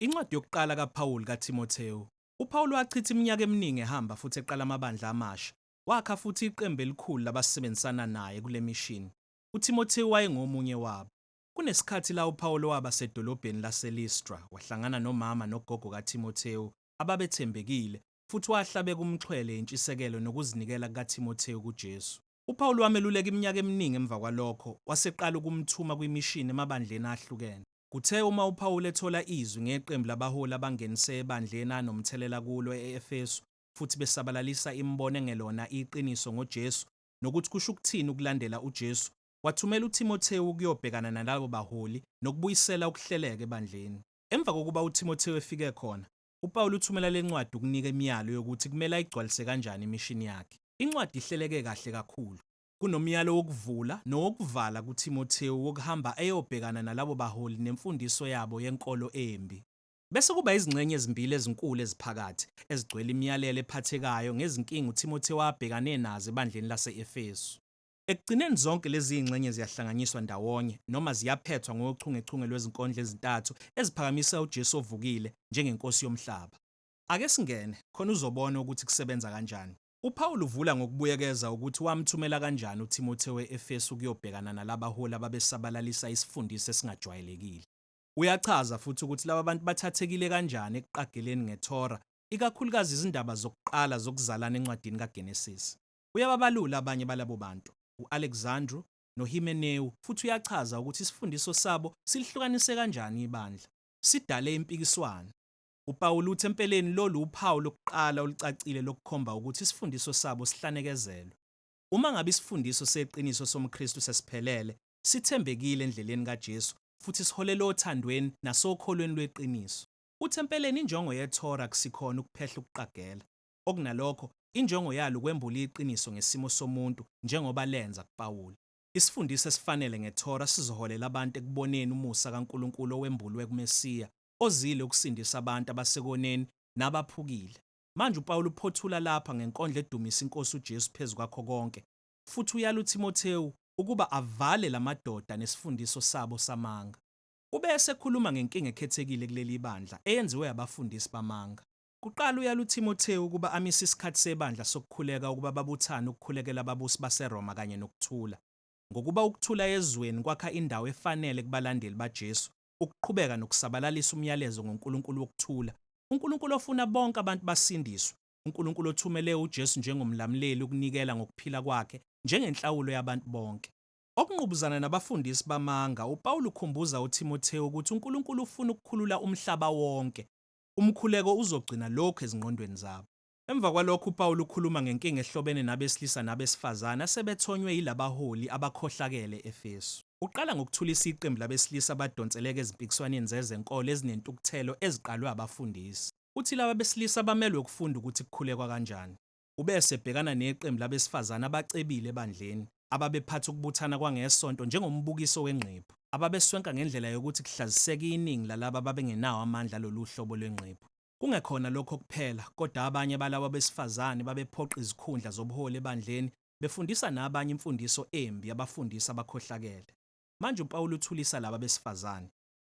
Incwadi yokuqala kaPawulu kaThimothewu. UPawulu wachitha iminyaka eminingi ehamba futhi eqala amabandla amasha. Wakha futhi iqembu elikhulu labasebenzisana naye kule mishini. UThimothewu wayengomunye wabo. Kunesikhathi la uPawulu waba sedolobheni laseListra, wahlangana nomama nogogo kaThimothewu ababethembekile, futhi wahlabeka umxhwele intshisekelo nokuzinikela kukaThimothewu kuJesu. UPawulu wameluleka iminyaka eminingi emva kwalokho, waseqala ukumthuma kwimishini emabandleni ahlukene. Kuthe uma uPawulu ethola izwi ngeqembu labaholi abangenise ebandleni anomthelela kulo e-Efesu futhi besabalalisa imibono engelona iqiniso ngoJesu nokuthi kusho ukuthini ukulandela uJesu, wathumela uThimothewu ukuyobhekana nalabo baholi nokubuyisela ukuhleleka ebandleni. Emva kokuba uThimothewu efike khona, UPawulu uthumela le ncwadi ukunika imiyalo yokuthi kumele ayigcwalise kanjani imishini yakhe. Incwadi ihleleke kahle kakhulu. Kunomyalo wokuvula nowokuvala kuThimothewu wokuhamba eyobhekana nalabo baholi nemfundiso yabo yenkolo embi. Bese kuba izingxenye ezimbili ezinkulu eziphakathi, ezigcwele imiyalelo ephathekayo ngezinkinga uThimothewu abhekane nazo ebandleni lase-Efesu. Ekugcineni zonke lezi zingxenye ziyahlanganyiswa ndawonye, noma ziyaphethwa ngochungechunge lwezinkondlo ezintathu eziphakamisa uJesu ovukile njengeNkosi yomhlaba. Ake singene, khona uzobona ukuthi kusebenza kanjani. UPawulu uvula ngokubuyekeza ukuthi wamthumela kanjani uThimothewu e-Efesu ukuyobhekana nalabaholi ababesabalalisa isifundiso esingajwayelekile. Uyachaza futhi ukuthi laba bantu bathathekile kanjani ekuqageleni ngeThora, ikakhulukazi izindaba zokuqala zokuzalana encwadini kaGenesise. Uyababalula abanye balabo bantu, u-Alexandru noHimeneu, futhi uyachaza ukuthi isifundiso sabo silihlukanise kanjani ibandla. Sidale impikiswano. UPawulu uthi empeleni lolu wuphawu lokuqala olucacile lokukhomba ukuthi isifundiso sabo sihlanekezelwe. Uma ngabe isifundiso seqiniso somKristu sesiphelele, sithembekile endleleni kaJesu futhi siholela othandweni nasokholweni lweqiniso. Uthi empeleni injongo yeTorah akusikhona ukuphehla ukuqagela. Okunalokho, injongo yalo ukwembula iqiniso ngesimo somuntu, njengoba lenza kuPawulu. Isifundiso esifanele ngeThora sizoholela abantu ekuboneni umusa kaNkulunkulu owembulwe kuMesiya, ozile ukusindisa abantu abasekoneni nabaphukile. Manje uPawulu uphothula lapha ngenkondlo edumisa iNkosi uJesu phezu kwakho konke, futhi uyala uThimothewu ukuba avale la madoda nesifundiso sabo samanga. Ube esekhuluma ngenkinga ekhethekile kuleli ibandla, eyenziwe abafundisi bamanga. Kuqala uyala uThimothewu ukuba amise isikhathi sebandla sokukhuleka ukuba babuthane ukukhulekela ababusi baseRoma kanye nokuthula. Ngokuba ukuthula ezweni kwakha indawo efanele kubalandeli baJesu ukuqhubeka nokusabalalisa umyalezo ngoNkulunkulu wokuthula, uNkulunkulu ofuna bonke abantu basindiswe, uNkulunkulu othumele uJesu njengoMlamuleli ukunikela ngokuphila kwakhe njengenhlawulo yabantu bonke. Okungqubuzana nabafundisi bamanga, uPawulu ukhumbuza uThimothewu ukuthi uNkulunkulu ufuna ukukhulula umhlaba wonke. umkhuleko uzogcina lokhu ezingqondweni zabo. Emva kwalokho uPawulu ukhuluma ngenkinga ehlobene nabesilisa nabesifazane asebethonywe yilabaholi abakhohlakele e-Efesu. Uqala ngokuthulisa iqembu labesilisa abadonseleka ezimpikiswaneni zezenkolo ezinentukuthelo eziqalwe abafundisi. Uthi laba besilisa bamelwe ukufunda ukuthi kukhulekwa kanjani. Ube esebhekana neqembu labesifazane abacebile ebandleni ababephatha ukubuthana kwangeSonto njengombukiso wengqephu, ababeswenka ngendlela yokuthi kuhlaziseke iningi lalabo ababengenawo amandla alolu hlobo lwengqephu. Kungekhona lokho kuphela, kodwa abanye balabo besifazane babephoqa izikhundla zobuholi ebandleni, befundisa nabanye imfundiso embi yabafundisi abakhohlakele. Manje uPawulu uthulisa laba besifazane.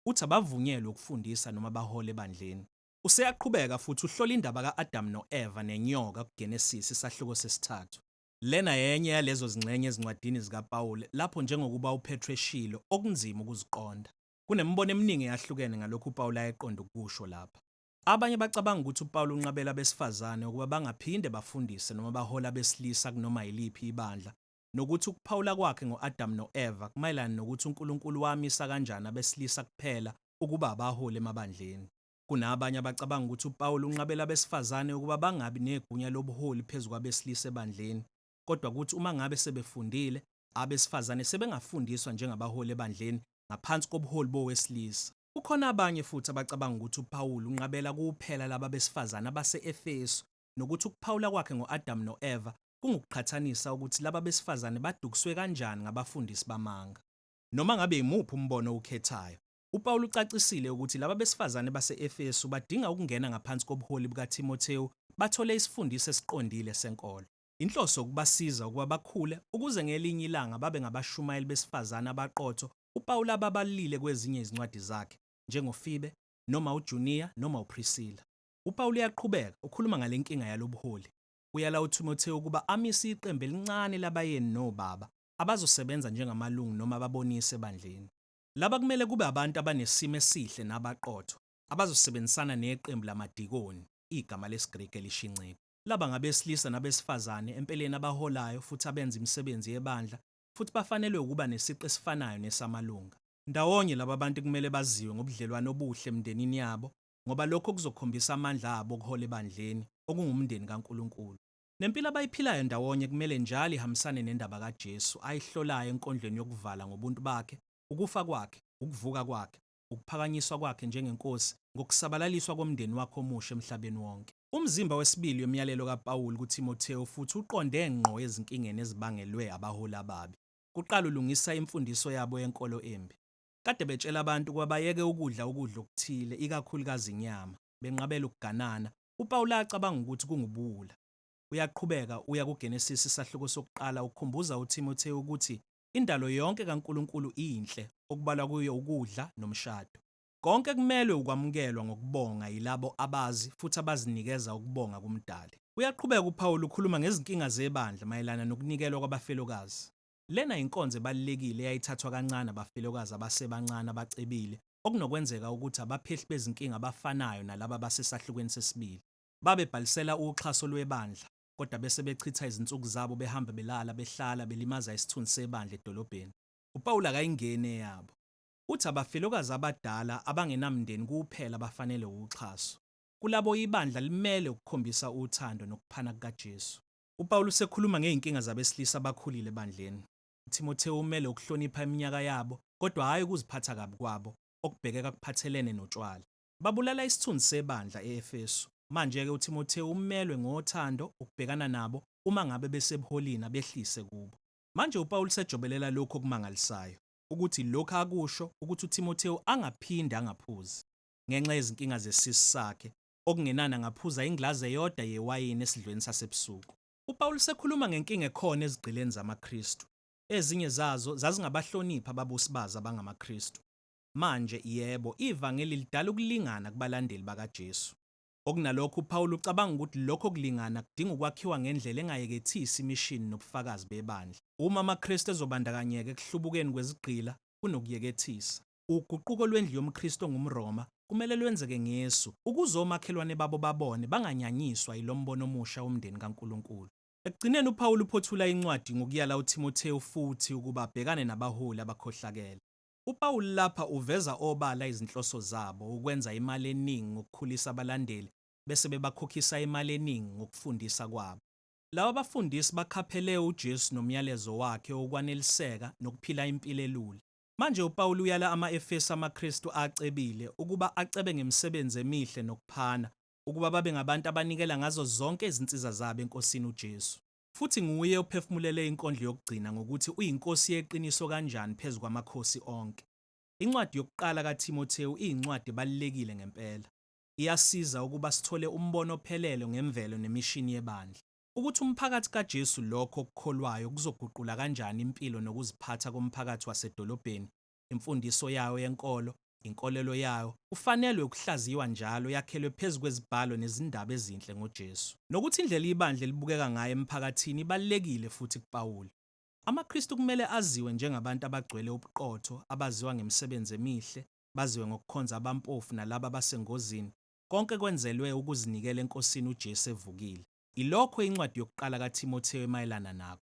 Uthi abavunyelwe ukufundisa noma bahole ebandleni. Useyaqhubeka futhi uhlola indaba ka-Adamu no-Eva nenyoka kuGenesisi, isahluko sesithathu. Lena yenye yalezo zingxenye ezincwadini zikaPawulu lapho, njengokuba uPetru eshilo, okunzima ukuziqonda. Kunemibono eminingi eyahlukene ngalokho uPawulu ayeqonde ukukusho lapha. Abanye bacabanga ukuthi uPawulu unqabela abesifazane ukuba bangaphinde bafundise noma bahole abesilisa kunoma yiliphi ibandla, nokuthi ukuphawula kwakhe ngo-Adamu no-Eva kumayelana nokuthi uNkulunkulu wamisa kanjani abesilisa kuphela ukuba abaholi emabandleni. Kunabanye abacabanga ukuthi uPawulu unqabela abesifazane ukuba bangabi negunya lobuholi phezu kwabesilisa ebandleni, kodwa kuthi uma ngabe sebefundile, abesifazane sebengafundiswa njengabaholi ebandleni ngaphansi kobuholi bowesilisa. Kukhona abanye futhi abacabanga ukuthi uPawulu unqabela kuphela laba besifazane abase-Efesu nokuthi ukuphawula kwakhe ngo-Adamu no-Eva kungukuqhathanisa ukuthi laba besifazane badukiswe kanjani ngabafundisi bamanga. Noma ngabe yimuphi umbono owukhethayo, uPawulu ucacisile ukuthi laba besifazane base-Efesu badinga ukungena ngaphansi kobuholi bukaThimothewu bathole isifundiso esiqondile senkolo. Inhloso ukubasiza ukuba bakhule ukuze ngelinye ilanga babe ngabashumayeli besifazane abaqotho uPawulu ababalile kwezinye izincwadi zakhe, njengoFibe, noma uJuniya, noma uPrisila. UPawulu uyaqhubeka, ukhuluma ngale nkinga yalobuholi. Uyala uThimothewu ukuba amise iqembu elincane labayeni nobaba abazosebenza njengamalungu noma ababonisi ebandleni. Laba kumele kube abantu abanesimo esihle nabaqotho, abazosebenzisana neqembu lamadikoni, igama lesiGriki elisho inceku. Laba ngabesilisa nabesifazane empeleni abaholayo futhi abenza imisebenzi yebandla, futhi bafanelwe ukuba nesiqu esifanayo nesamalunga. Ndawonye, laba bantu kumele baziwe ngobudlelwane obuhle emindenini yabo, ngoba lokho kuzokhombisa amandla abo okuhola ebandleni, okungumndeni kaNkulunkulu. Nempilo abayiphilayo ndawonye kumele njalo ihambisane nendaba kaJesu ayihlolayo enkondlweni yokuvala ngobuntu bakhe, ukufa kwakhe, ukuvuka kwakhe, ukuphakanyiswa kwakhe njengeNkosi, ngokusabalaliswa komndeni wakhe omusha emhlabeni wonke. Umzimba wesibili yomyalelo kaPawulu kuThimothewu futhi uqonde ngqo ezinkingeni ezibangelwe abaholi ababi. Kuqala ulungisa imfundiso yabo yenkolo embi. kade betshela abantu ukuba bayeke ukudla ukudla okuthile, ikakhulukazi inyama, benqabela ukuganana. UPawulu acabanga ukuthi kungubuwula. Uyaqhubeka uya kuGenesisi isahluko sokuqala ukhumbuza uThimothewu ukuthi indalo yonke kaNkulunkulu iyinhle, okubalwa kuyo ukudla nomshado. Konke kumelwe ukwamukelwa ngokubonga yilabo abazi futhi abazinikeza ukubonga kuMdali. Uyaqhubeka uPawulu ukhuluma ngezinkinga zebandla mayelana nokunikelwa kwabafelokazi. Lena yinkonzo ebalulekile eyayithathwa kancane abafelokazi abasebancane abacebile, okunokwenzeka ukuthi abaphehli bezinkinga abafanayo nalabo abasesahlukweni sesibili. Babebhalisela uxhaso lwebandla, kodwa bese bechitha izinsuku zabo behamba belala, behlala, belimaza isithunzi sebandla edolobheni. UPawulu akayingeni eyabo. Uthi abafelokazi abadala abangenamndeni kuphela abafanele uxhaso. Kulabo ibandla limele ukukhombisa uthando nokuphana kukaJesu. UPawulu usekhuluma ngezinkinga zabesilisa abakhulile ebandleni. UThimothewu umele ukuhlonipha iminyaka yabo, kodwa hhayi ukuziphatha kabi kwabo, okubhekeka kuphathelene notshwala. Babulala isithunzi sebandla e-Efesu. Manje-ke uThimothewu umelwe ngothando ukubhekana nabo uma ngabe besebuholini abehlise kubo. Manje uPawulu usejobelela lokhu okumangalisayo, ukuthi lokhu akusho ukuthi uThimothewu angaphinde angaphuzi ngenxa yezinkinga zesisi sakhe Okungenana ngaphuza ingilazi eyoda yewayini esidlweni sasebusuku. UPawulu usekhuluma ngenkinga ekhona ezigqileni zamaKristu. Ezinye zazo zazingabahloniphi ababusi bazo abangamaKristu. Manje, yebo, ivangeli lidala ukulingana kubalandeli bakaJesu. Okunalokho, uPawulu ucabanga ukuthi lokho kulingana kudinga ukwakhiwa ngendlela engayekethisi imishini nobufakazi bebandla. Uma amaKristu ezobandakanyeka ekuhlubukeni kwezigqila kunokuyekethisa. Uguquko lwendlu yomKristu ongumRoma kumele lwenzeke ngesu, ukuze omakhelwane babo babone banganyanyiswa yilombono omusha womndeni kaNkulunkulu. Ekugcineni uPawulu uphothula incwadi ngokuyala uThimothewu futhi ukuba abhekane nabaholi abakhohlakele. UPawulu lapha uveza obala izinhloso zabo, ukwenza imali eningi ngokukhulisa abalandeli bese bebakhokhisa imali eningi ngokufundisa kwabo. Laba bafundisi bakhaphelee uJesu nomyalezo wakhe wokwaneliseka nokuphila impilo elula. Manje, uPawulu uyala ama-Efesu amaKristu acebile ukuba acebe ngemisebenzi emihle nokuphana, ukuba babe ngabantu abanikela ngazo zonke izinsiza zabo eNkosini uJesu. Futhi nguye ophefumulele inkondlo yokugcina ngokuthi uyiNkosi yeqiniso kanjani phezu kwamakhosi onke. Incwadi yokuQala kaThimothewu iyincwadi ebalulekile ngempela. Iyasiza ukuba sithole umbono ophelele ngemvelo nemishini yebandla. ukuthi umphakathi kaJesu lokho okukholwayo kuzoguqula kanjani impilo nokuziphatha komphakathi wasedolobheni, imfundiso yawo yenkolo, inkolelo yawo, kufanelwe ukuhlaziywa njalo yakhelwe phezu kwezibhalo nezindaba ezinhle ngoJesu. Nokuthi indlela ibandla elibukeka ngayo emphakathini ibalulekile futhi kuPawulu. AmaKristu kumele aziwe njengabantu abagcwele ubuqotho, abaziwa ngemisebenzi emihle, baziwe ngokukhonza abampofu nalabo abasengozini, Konke kwenzelwe ukuzinikela eNkosini uJesu evukile. Ilokho incwadi yokuqala kaThimothewu emayelana nakho.